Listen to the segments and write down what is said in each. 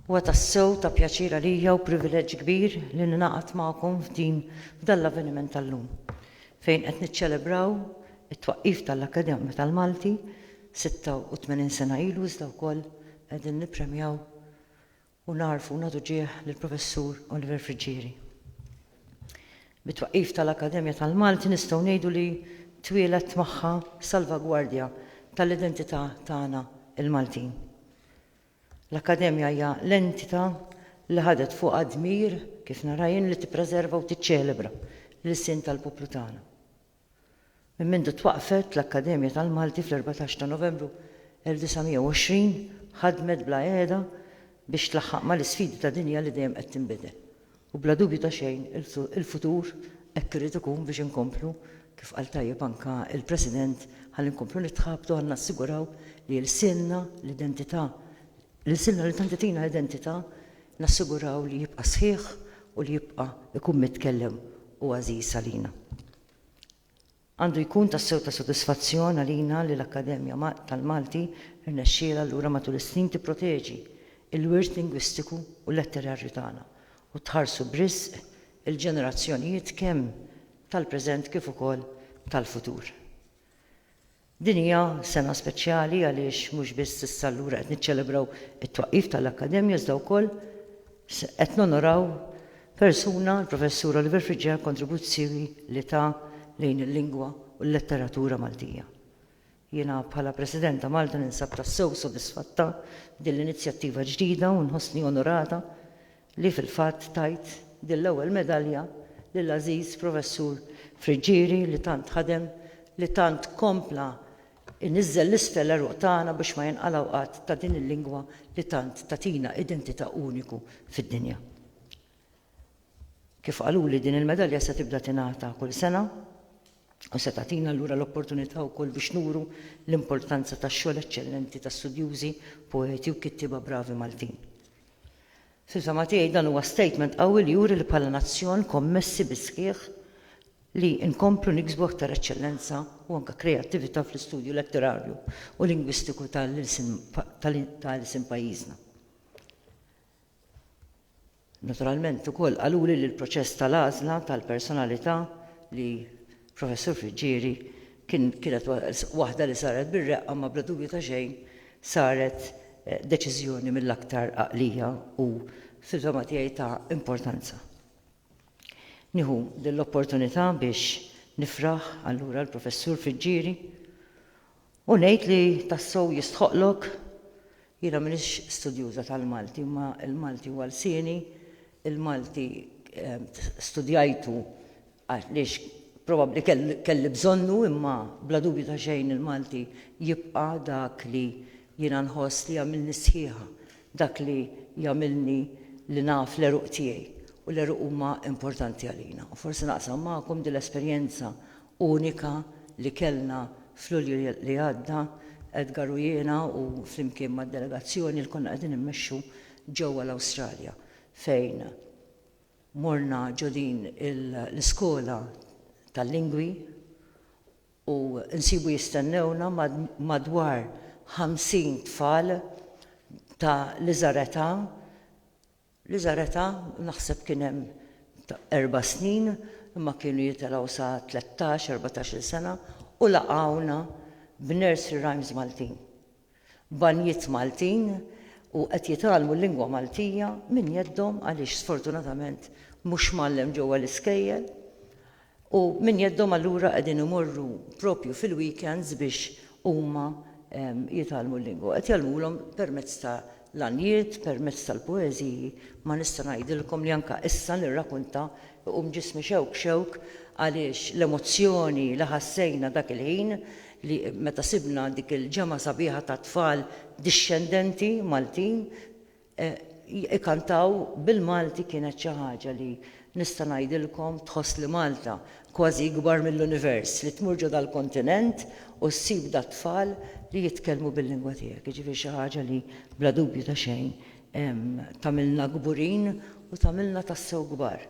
Huwa tassew ta' pjaċir għalija u privileġġ kbir li ningħaqad magħkom f'din f'dan l-avveniment tal-lum, fejn qed niċċelebraw it-twaqqif tal-Akkademja tal-Malti 86 sena ilu iżda wkoll qegħdin nippremjaw u nagħrfu u nagħtu ġieħ lill-Professur Oliver Friggieri. Bit-twaqqif tal-Akkademja tal-Malti nistgħu ngħidu li twieled magħha salvagwardja tal-identità tagħna l-Maltin. L-Akkademja hija l-entità li ħadet fuqha d-dmir, kif nara jien, li tippreserva u tiċċelebra l-ilsien tal-poplu tagħna. Minn mindu twaqqfet, l-Akkademja tal-Malti fl-14 ta' Novembru 1920 ħadmet bla qiegħda biex tlaħħaq mal-isfidi ta' dinja li dejjem qed tinbidel. U bla dubju ta' xejn, il-futur hekk irid ikun biex inkomplu, kif qal tajjeb anke il-President, ħalli nkomplu nitħabtu ħalli nassiguraw li lsienna, l-identità, L-ilsiena li tant tagħtina identità nassiguraw li jibqa' sħiħ u li jibqa' jkun mitkellem u għażiż għalina. Għandu jkun tassew ta' sodisfazzjon għalina li l-Akkademja tal-Malti rnexxielha allura matul is-snin tipproteġi l-wirt lingwistiku u letterarju tagħna u tħarsu b'riżq il-ġenerazzjonijiet kemm tal-preżent kif ukoll tal-futur. Din hija sena speċjali għaliex mhux biss issa allura qed niċċelebraw it-twaqqif tal-Akkademja iżda wkoll qed nonoraw persuna, il-Professur Oliver Friġġi għall-kontribuzzjoni li ta lejn il-lingwa u l-letteratura Maltija. Jiena bħala President ta' Malta ninsab tassew sodisfatta b'din l-inizjattiva ġdida u nħossni onorata li fil-fatt tajt din l-ewwel medalja lill-għażiż Professur Friggieri li tant ħadem, li tant kompla jniżżel l-isfel l-għeruq tagħna biex ma jinqalgħu qatt ta' din il-lingwa li tant tagħtina identità uniku fid-dinja. Kif qaluli din il-medalja se tibda tingħata kull sena. u se tagħtina allura l-opportunità wkoll biex nuru l-importanza tax-xogħol eċċellenti ta' studjużi, poeti u kittieba bravi Maltin. Fil-fehma tiegħi dan huwa statement qawwi li juri li bħala nazzjon kommessi bis-sħiħ li nkomplu niksbu aktar eċċellenza u anke kreattività fl-istudju letterarju u lingwistiku ta' l-ilsien ta' ilsien pajjiżna. Naturalment ukoll qaluli li l-proċess tal-għażla tal-personalità li Professur Friggieri kien kienet waħda li saret bir-reqqa ma bla dubju ta' xejn saret deċiżjoni mill-aktar għaqlija u fil-fehma tiegħi ta' importanza. Nieħu din l-opportunità biex nifraħ allura l-Professur Friggieri U ngħid li tassew jistħoqqlok, jiena m'iniex studjuża tal-Malti imma l-Malti huwa lsieni, il-Malti studjajtu għaliex probabbli kelli bżonnu imma bla dubju ta' xejn il-Malti jibqa' dak li jiena nħoss li jagħmilni sħiħa, dak li jagħmilni li naf l-għeruq tiegħi u l-għeruq huma importanti għalina. U forsi naqsam magħkom din l-esperjenza unika li kellna f'Lulju li għadda, Edgar u jiena u flimkien mad-delegazzjoni li konna qegħdin immexxu ġewwa l-Awstralja fejn morna ġo din l-iskola tal-lingwi u nsibu jistennewna madwar 50 tfal ta' l-iżgħar età Li żaretha naħseb kien hemm erba' snin imma kienu jitelgħu sa tlettax, erbatax-il sena u laqgħuna b'nursery rhymes Maltin, banjiet Maltin u qed jitgħallmu l-lingwa Maltija minn jeddhom għaliex sfortunatament mhux mgħallem ġewwa l-iskejjel. U minn jeddhom allura qegħdin imorru proprju fil-weekends biex huma jitgħallmu l-lingwa. Qed jgħallmulhom permezz ta' l-għanjiet, permezz tal-poeżiji, ma nista' ngħidilkom li anke issa nirrakunta jqum ġismi xewk xewk għaliex l-emozzjoni li ħassejna dak il-ħin li meta sibna dik il-ġemgħa sabiħa tat-tfal dixxendenti Maltin Ikantaw bil-Malti kienet xi ħaġa li, nista' ngħidilkom, tħoss li Malta kważi ikbar mill-univers, li tmur ġo dal-kontinent u ssib dat-tfal li jitkellmu bil-lingwa tiegħek. Jiġifieri xi ħaġa li bla dubju ta' xejn tagħmilna kburin u tagħmilna tassew kbar.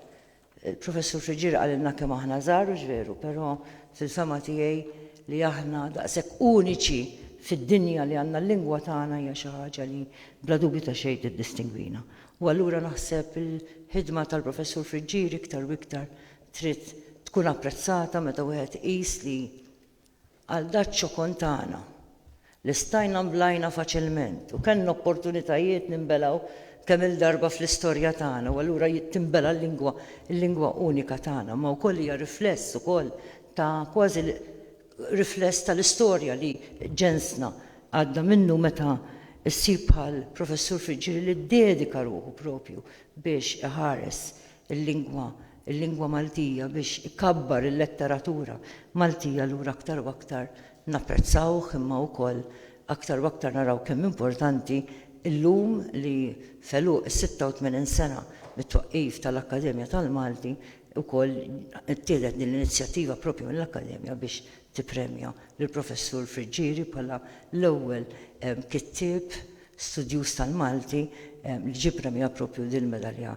Il-Professur Friggieri qalilna kemm aħna żgħar hux veru, però fil-fehma tiegħi li aħna daqshekk uniċi fid-dinja li għandna l-lingwa tagħna hija xi ħaġa li bla dubju ta' xejn tiddistingwina. U allura naħseb il-ħidma tal-Professur Friggieri iktar u iktar trid tkun apprezzata meta wieħed iqis li Għal Daċċo Contana, li stajna nblajna faċilment u kellna opportunitajiet ninbelgħu kemm-il darba fl-istorja tagħna u allura tinbela' l-lingwa, il-lingwa unika tagħna, imma wkoll hija rifless ukoll ta' kważi rifless tal-istorja li ġensna għadda minnu meta ssib bħal Professur Friggieri li ddedika ruħu proprju biex iħares il-lingwa, il-lingwa Maltija biex ikabbar il-letteratura Maltija allura aktar u aktar napprezzawh imma wkoll aktar u aktar naraw kemm importanti llum li f'għeluq is-86 sena mit-twaqqif tal-Akkademja tal-Malti wkoll ittieħdet din l-inizjattiva proprju mill-Akkademja biex tippremja lill-Professur Friggieri bħala l-ewwel kittieb studjuż tal-Malti li ġie ppremjat proprju din il-medalja